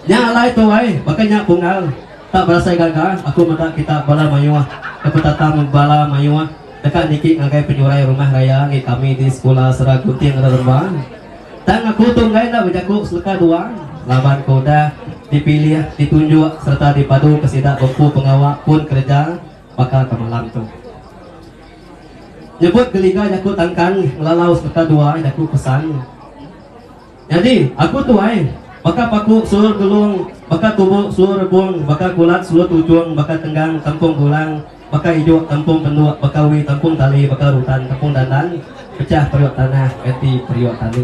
Nya alai tu ai, baka nya Pungal. Tak berasai gaga, aku meda kita bala mayuh ke betatam bala mayuh deka niki ngagai penyurai rumah raya enggi kami di Sekula Sera Gunting Rerembang. Tang aku tu enggai enda bejaku seleka dua laban ke udah dipilih, ditunjuk sereta dipadu ke sida bempu pengawa pun kereja baka ke malam tu. Nyebut geliga jaku tangkan ngelalau sebeta dua jaku pesan. Nyadi, aku tu ai, baka paku sulur gelung, baka tubu sulur rebung, baka kulat sulur tuchung, baka tenggang tempung gulang, baka ijuk tempung penduk, baka wi tempung tali, baka rutan tempung dandan, pechah periuk tanah ganti periuk tani.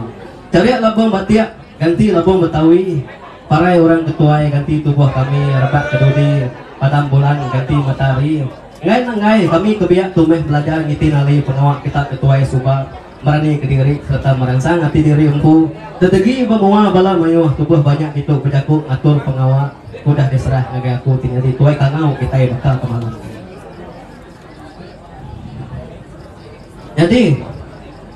Charik labung batik ganti labung betawi, parai orang ke tuai ganti tubuh kami, rebak ke dudi, padam bulan ganti matahari. Ngai nenggai, kami ke biak tu meh belajar ngiti nali pengawa kitak ke tuai suba, merani kediri sereta meransang ati diri empu, tetegi ba mua bala mayuh tubuh banyak ditu bejaku ngatur pengawa ke udah diserah ngagai aku ti nyadi tuai kangau kitai baka ke malam ti. Nyadi,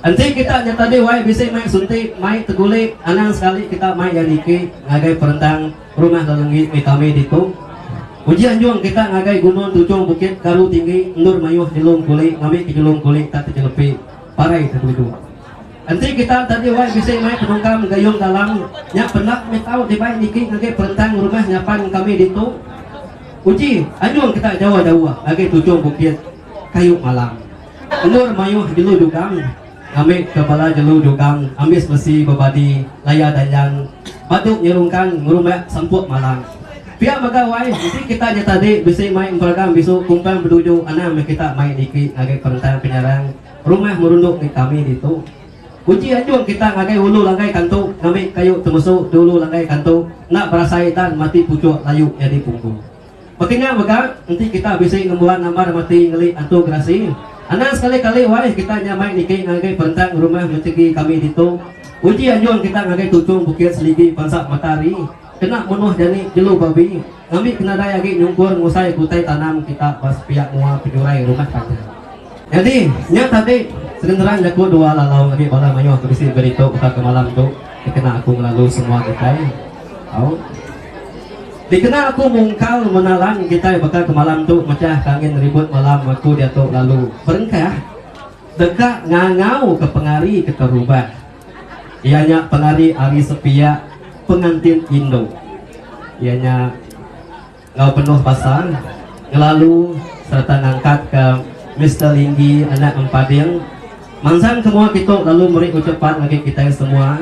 enti kitak nyatadi wai bisi mai suntik, mai tegulik, anang sekali kitak mai iya niki ngagai perentang. Rumah Lelenggi Mitami ditu. Uji anjung kita ngagai gunung tujung bukit karu tinggi endur mayuh nyelum kuli ngambika nyelum kuli tak tejelepi parai te belidu. Enti kita enda diwai bisi mai penungkam gayung dalam nya pendak mih tau dibai niki ngagai perentang rumah nyapan kami ditu. Uji anjung kita jauh-jauh ngagai tujung bukit kayu malam endur mayuh jelu jugang. Ambi ke bala jelu jugang ambis besi bebadi laya danjang batu nyerungkang ngerumbak sempuk malang. Pia mega wai enti kita nyata di bisi mai emperagam bisu kumpang beduju anang meh kita mai diki ngagai perentang penyarang rumah merunduk ti kami ditu. Uji anjung kita ngagai ulu langgai kantu ngambi kayu temesu di ulu langgai kantu enda berasai dan mati puchuk layu nyadi pungku. Petinga mega, enti kita bisi ngembuan nambar mati ngeli antu gerasi, anang sekali-kali wai kita nya mai niki ngagai perendang rumah mentegi kami ditu. Uji anjung kita ngagai tuchung bukit seligi pansap matahari kena menuh jani jelu babi ngambi kenadai agi nyungkur ngusai ke utai tanam kita ba sepiak mua penyurai rumah panjai. Jadi, nya tadi segenerang jaku dua lalau agi bala mayuh ke bisi beritu betaka malam tu dikena aku ngelalu semua kitai. Au. Dikena aku mungkal menalan kitai baka ke malam tu mechah ke angin ribut malam aku diatu lalu berengkah deka ngangau ke pengari ke terubah. Iya nya pengari ari sepiak pengantin indu. Iya nya Enggau penuh basa, ngelalu sereta ngangkatka Mister Linggi anak Empading manzang ke mua kitu lalu meri uchupan ngagai kitai semua.